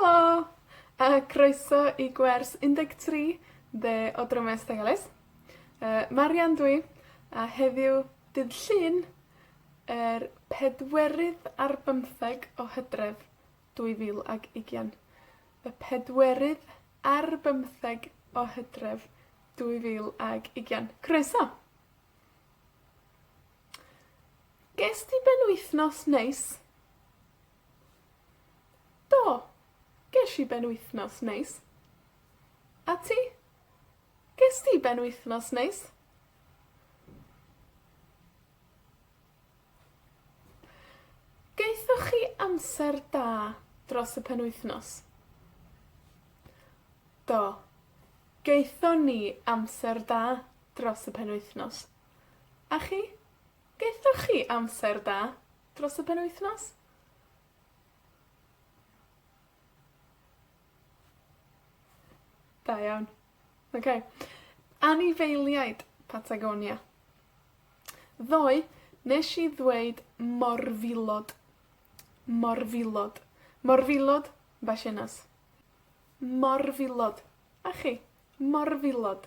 Helo! A croeso i gwers un deg tri de o Drameu Ystum Ellis. Yy, Marian dw i, a heddiw, dydd Llun, yr pedwerydd ar bymtheg o Hydref, dwy fil ag ugian. Y pedwerydd ar bymtheg o Hydref, dwy fil ag ugian. Croeso! Gest ti ben-wythnos neis? Do, gesh i ben-wythnos neis. A ti? Gest ti ben-wythnos neis? Gaethoch chi amser da dros y penwythnos? Do, gaethon ni amser da dros y penwythnos. A chi? Gaethoch chi amser da dros y penwythnos? Da iawn. Oce. Anifeiliaid Patagonia. Ddoe, nesh i ddweud morfilod. Morfilod. Morfilod, Basiennas. Morfilod. A chi? Morfilod.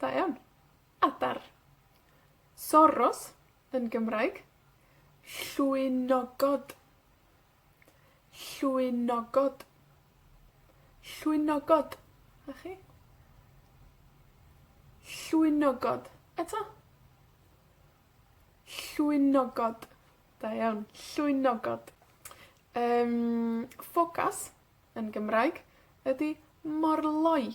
Da iawn. Adar. Soros yn Gymraeg. Llwynogod. Llwynogod. Llwynogod. 'Na chi. Llwynogod. Eto. Llwynogod. Da iawn. Llwynogod. Yym, ffocas yn Gymraeg ydi morloi.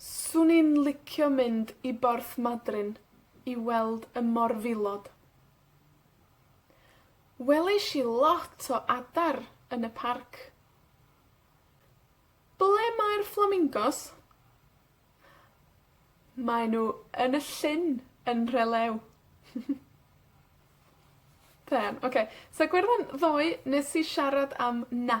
'Swn i'n licio mynd i Borthmadryn i weld y morfilod. Welish i lot o adar yn y parc. Ble mae'r fflamingos? Mae nw yn y llyn yn Nhrelew. Da iawn. Oce, so Gwerddon ddoe, nes i siarad am na.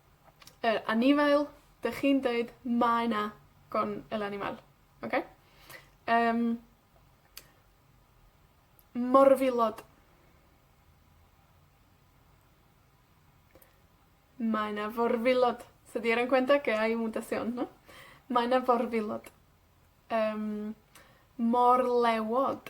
yy, anifail, 'dych chi'n deud mae 'na gorn fel anifail. Oce? Yym. Morfilod. Mae 'na forfilod. Tydi e ddim cweit yn dda i fod yn siwrne na? Mae 'na forfilod. Yym, morlewod.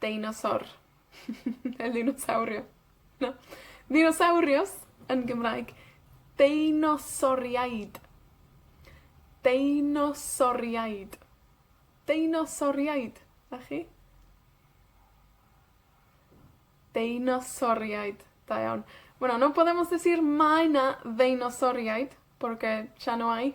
Deinosor. Ne' ddinosawrio. Na. Ddinosawrios yn Gymraeg. Deinosoriaid. Deinosoriaid. Deinosoriaid. 'Na chi. Deinosoriaid. Da iawn. Wel, no problem os es i'r Mae 'na ddeinosoriaid, porque ya no hay.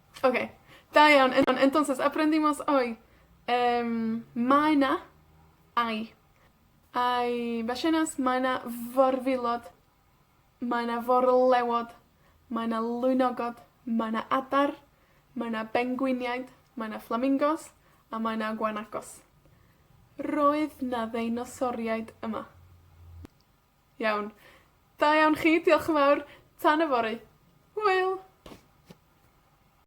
Oce, da iawn. En- entonces aprendimos hoy yym mae 'na, hay, hay ballenas mae 'na forwilod, mae 'na forlewod, mae 'na lwynogod, mae 'na adar, mae 'na bengwiniaid, mae 'na fflamingos, a mae 'na gwanacos. Roedd 'na ddeinosoriaid yma. Iawn. Da iawn chi, diolch yn fawr. Tan yfory. Hwyl!